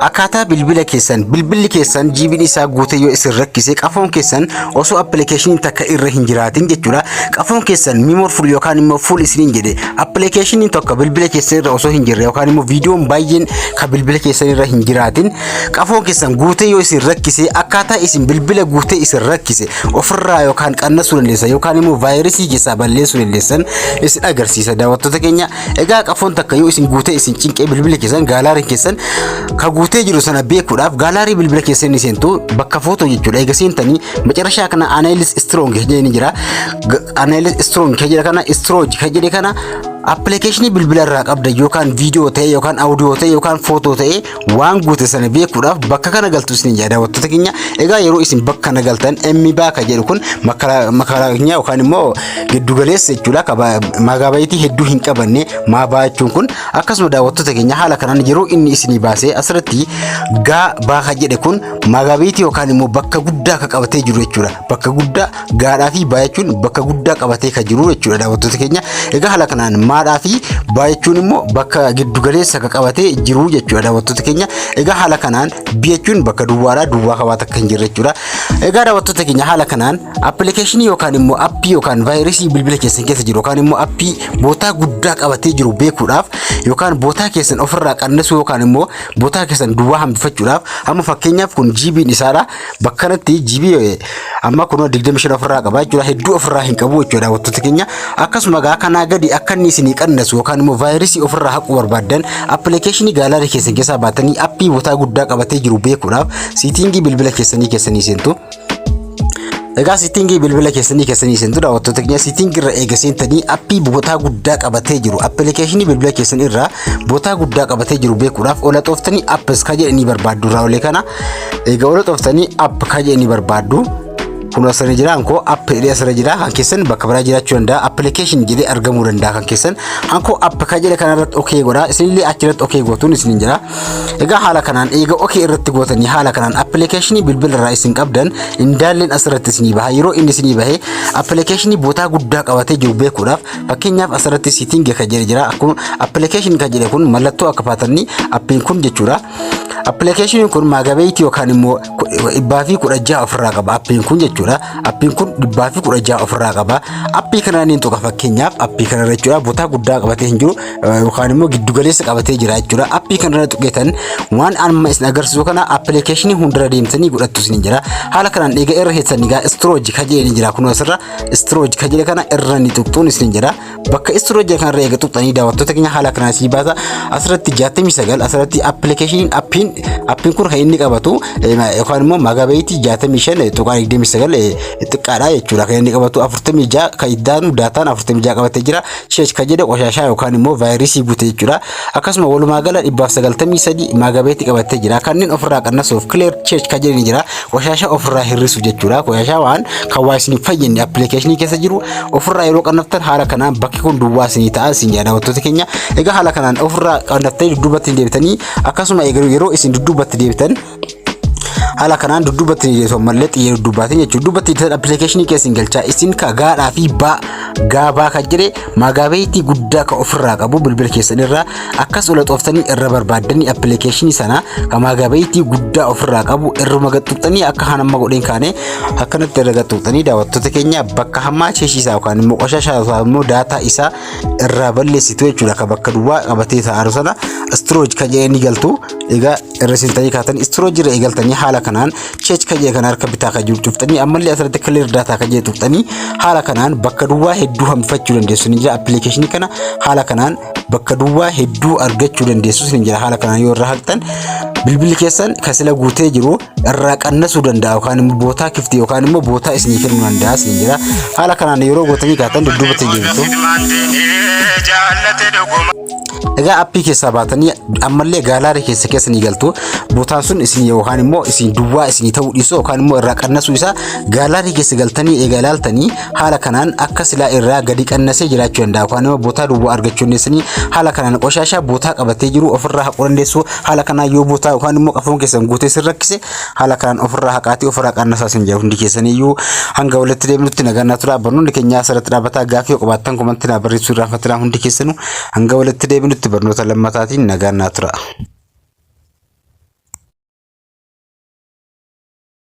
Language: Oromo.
Akkaataa bilbila keessan bilbilli keessan jiibiin isaa guutee yoo isin rakkise qafoon keessan osoo appilikeeshiniin takka irra hin jiraatin jechuudha. Qafoon keessan mimoor fuul yookaan immoo fuul isiniin jedhe appilikeeshiniin tokko bilbila keessan irra osoo hin jirre yookaan immoo viidiyoon baay'een kan bilbila keessan irra hin jiraatin qafoon keessan guutee yoo isin rakkise akkaataa isin bilbila guutee isin rakkise ofirraa yookaan qannasuu dandeessan yookaan immoo vaayirasii keessaa balleessuu dandeessan isin agarsiisa daawwattoota keenya Egaa qafoon takka yoo isin guutee isin cinqee bilbila keessan gaalaariin keessan ka guutee jiru sana beekuudhaaf gaalaarii bilbila keessan ni seentu bakka footoo jechuudha. Egaa seentanii macarashaa kana anaayilis istiroong jedhee ni jira. Anaayilis istiroong kan jedhe kana istirooj kan jedhe kana appilikeeshinii bilbila irraa qabda yookaan viidiyoo ta'e yookaan audiyoo ta'e yookaan footoo ta'e waan goote sana beekuudhaaf bakka kana galtu isin yaada daawwattoota keenya egaa yeroo isin bakka kana galtan emmi baaka jedhu kun makara keenya yookaan immoo giddu galeessa jechuudha kaba magaabayitii hedduu hin qabanne maa baachuun kun akkasuma daawwattoota keenya haala kanaan yeroo inni isinii baasee asirratti gaa baaka jedhe kun magaabayitii yookaan immoo bakka guddaa akka qabatee jiru jechuudha bakka guddaa gaadhaa fi baay'achuun bakka guddaa qabatee kan jiru jechuudha daawwattoota keenya. Egaa haala kanaan maadhaa fi baay'achuun immoo bakka giddugaleessa kan qabatee jiru jechuudha daawwattoota keenya. Egaa haala kanaan biyachuun bakka duwwaadhaa duwwaa qabaata kan jirre jechuudha. Egaa daawwattoota keenya haala kanaan appilikeeshinii yookaan immoo appii yookaan vaayirasii bilbila keessan keessa jiru yookaan immoo appii bootaa guddaa qabatee jiru beekuudhaaf yookaan bootaa keessan ofirraa qannesuu yookaan immoo bootaa keessan duwwaa hambifachuudhaaf amma fakkeenyaaf kun jiibiin isaadha. Bakka kanatti GB amma kunoo 25 ofirraa qaba jechuudha. Hedduu ofirraa hin qabu jechuudha wantoota keenya. Akkasuma gaa kanaa gadi akka inni isinii qannasu yookaan immoo vaayirasii ofirraa haquu barbaaddan appilikeeshinii gaalaarii keessan keessaa baatanii appii botaa guddaa qabatee jiru beekuudhaaf siitingii bilbila keessanii keessanii seentu. Egaa siitingii bilbila keessanii keessanii seentu daawwattoota keenya siitingii irra eega seentanii appii botaa guddaa qabatee jiru appilikeeshinii bilbila keessan irraa botaa guddaa qabatee jiru beekuudhaaf ola xooftanii appis ka jedhanii barbaaddu irraa olee kana Egaa warra xooftanii app kan jedhanii barbaaddu kun asirra jira hankoo app jedhee asirra jira kan keessan bakka biraa jiraachuu danda'a application jedhee argamuu danda'a kan keessan hankoo app kan jedhe kanarratti ok godha isinillee achirratti ok gootuun isin jira egaa haala kanaan eega ok irratti gootanii haala kanaan application bilbila irraa isin qabdan indaalleen asirratti isinii baha yeroo inni isinii bahe application bootaa guddaa qabatee jiru beekuudhaaf fakkeenyaaf asirratti sitting kan jedhe jira akkuma application kan jedhe kun mallattoo akka paatanii appiin kun jechuudha Appilikeeshiniin kun maagabeeyitii yookaan immoo dhibbaa fi kudha jaha ofirraa qaba. Appiin kun jechuudha. Appiin kun dhibbaa fi kudha jaha ofirraa qaba. Appii kana niin tuqa fakkeenyaaf appii kana irra jechuudha. Botaa guddaa qabatee hin jiru yookaan immoo giddu galeessa qabatee jira jechuudha. Appii kana irra tuqeetan waan amma isin agarsiisu kana appilikeeshinii hundarra deemtanii godhattu isin jira. Haala kanaan eega irra keessan egaa istirooji kajeelee jira kunoo asirra istirooji kajeelee kana irra ni tuqxuun isin jira. Bakka istiroo jira kanarra eega tuqxanii daawwattoota keenya haala kanaan sii baasa. Asirratti 69 asirratti appilikeeshiniin appiin appiin kun kan inni qabatu yookaan immoo magabeetii 65 tuqaa 29 xiqqaadha jechuudha kan inni qabatu 46 kan iddaanu daataan 46 qabatee jira. Sheesh kan jedhu qoshaashaa yookaan immoo vaayirasii guute jechuudha. Akkasuma walumaa gala 193 maagabeetti qabattee jira. Kanneen ofirraa qannasuuf clear church kan jedhani jira. Washaashaa ofirraa hir'isuuf jechuudha. Washaashaa waan kan waa isin hin fayyadne appilikeeshinii keessa jiru ofirraa yeroo qannaftan haala kanaan bakki kun duwwaa isinii ta'a isin jedha daawwattoota keenya. Egaa haala kanaan ofirraa qannaftanii dudduubatti hin deebitanii akkasuma egaa yeroo isin dudduubatti deebitan haala kanaan dudduuba itti jeesu ammallee xiyya dudduubaatiin jechuudha dudduuba itti jeesan appilikeeshinii keessin galchaa isin ka gaadhaa fi baa gaabaa kan jedhe maagaabeeyitii guddaa ka ofirraa qabu bilbila keessan irraa akkas ola xooftanii irra barbaaddanii appilikeeshinii sana ka maagaabeeyitii guddaa ofirraa qabu irruma gaxxuxxanii akka haan amma godheen kaane akkanatti irra gaxxuxxanii daawwattoota keenya bakka hammaa cheeshiisaa yookaan immoo qoshashaa isaa immoo daataa isaa irraa balleessitu jechuudha ka bakka duwwaa qabatee taa'aru sana istirooj kan jedhee ni galtu egaa cirrisiistanii kaatan istiroo jira eegaltanii haala kanaan cheech kan jedhe kan harka bitaa kan jiru cuftanii ammallee asirratti clear data kan jedhe tuqxanii haala kanaan bakka duwwaa hedduu hambifachuu dandeessu ni jira appilikeeshinii kana haala kanaan bakka duwwaa hedduu argachuu dandeessu ni jira haala kanaan yoo irra haqxan bilbilli keessan kan sila guutee jiru irraa qannasuu danda'a yookaan immoo bootaa kifti yookaan immoo bootaa isinii kennuu danda'a isin jira haala kanaan yeroo gootanii kaatan dudduubatti hin deebitu. Ilmaan diinii jaallate dhuguma. Egaa appii keessaa baatanii ammallee gaalaarii keessa keessa ni galtu. Bootaan sun isin yookaan immoo isin duwwaa isin ta'uu dhiisuu yookaan immoo irraa qannasuu isaa gaalaarii keessa galtanii egaa ilaaltanii haala kanaan akka silaa irraa gadi qannasee jiraachuu danda'a. Yookaan immoo bootaa duwwaa argachuu dandeessanii haala kanaan qoshaashaa bootaa qabatee jiru ofirraa haquu dandeessu. Haala kanaan yoo bootaa yookaan immoo qafoon keessan guutee isin rakkise Haala kanaan ofirraa haqaatii ofirraa qaannasaa isin jedha hundi keessaniyyuu hanga walitti deemnutti nagaan naa turaa barnoonni keenyaa asirratti dhaabataa gaaffii yoo qabaattan komantti naa barreessuu irraa fatinaa hundi keessanuu hanga walitti deemnutti barnoota lammataatiin nagaan naa turaa.